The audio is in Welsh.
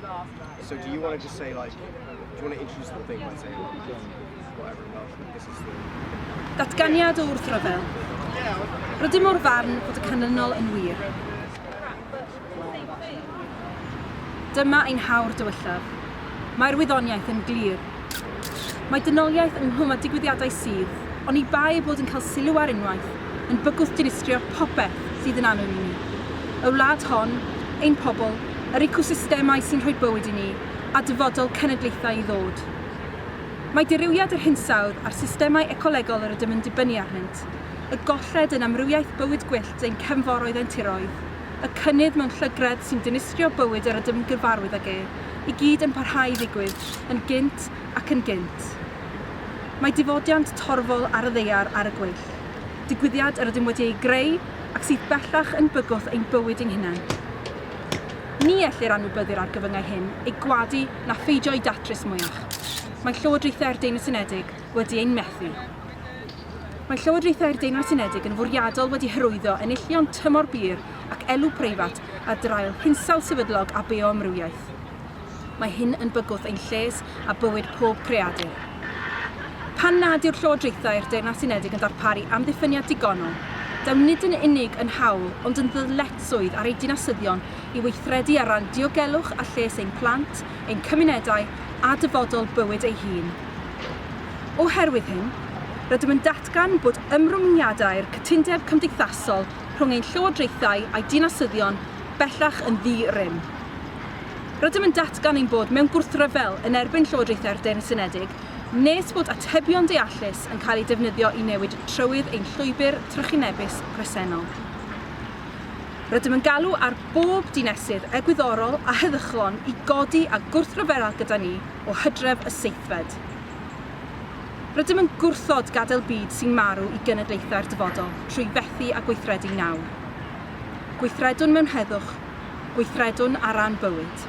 Um, so do you want to just say like, do you want to introduce the whole thing by saying whatever about this is the... Datganiad o wrthryfel. Rydym o'r farn bod y canlynol yn wir. Dyma ein hawr dywyllaf. Mae'r wyddoniaeth yn glir. Mae dynoliaeth ynghlwm â digwyddiadau sydd, oni bai eu bod yn cael sylw ar unwaith, yn bygwth dinistrio popeth sydd yn annwyl i ni. Y wlad hon, ein pobl, yr ecosystemau sy'n rhoi bywyd i ni, a dyfodol cenedlaethau i ddod. Mae dirywiad yr hinsawdd a'r systemau ecolegol yr ydym yn dibynnu arnynt, y golled yn amrywiaeth bywyd gwyllt ein cefnforoedd ein tiroedd, y cynnydd mewn llygredd sy'n dinistrio bywyd yr ydym yn gyfarwydd ag e, i gyd yn parhau i ddigwydd, yn gynt ac yn gynt. Mae difodiant torfol ar y ddaear ar y gweill, digwyddiad yr ydym wedi ei greu ac sydd bellach yn bygwth ein bywyd ein hunain. Ni ellir anwybyddu'r argyfyngau hyn, eu gwadu na pheidio â'u datrys mwyach. Mae llywodraethau'r Deyrnas Unedig, wedi ein methu. Mae Llywodraethau'r Deyrnas Unedig yn fwriadol wedi hyrwyddo enillion tymor bur ac elw preifat a draul hinsawdd sefydlog a bioamrywiaeth. Mae hyn yn bygwth ein lles a bywyd pob creadur. Pan nad yw'r Llywodraethau'r Deyrnas Unedig yn darparu amddiffyniad digonol, daw nid yn unig yn hawl ond yn ddyletswydd ar eu dinasyddion i weithredu ar ran diogelwch a lles ein plant, ein cymunedau a dyfodol bywyd ei hun. Oherwydd hyn, rydym yn datgan bod ymrwymiadau'r cytundeb cymdeithasol rhwng ein llywodraethau a'i dinasyddion bellach yn ddi-rym. Rydym yn datgan ein bod mewn gwrthryfel yn erbyn llywodraethau'r Deyrnas Unedig nes bod atebion deallus yn cael eu defnyddio i newid trywydd ein llwybr trychinebus presennol. Rydym yn galw ar bob dinesydd egwyddorol a heddychlon i godi a gwrthryfela gyda ni o hydref y seithfed. Rydym yn gwrthod gadael byd sy'n marw i genedlaethau'r dyfodol trwy fethu â gweithredu nawr. Gweithredwn mewn heddwch, gweithredwn ar ran bywyd.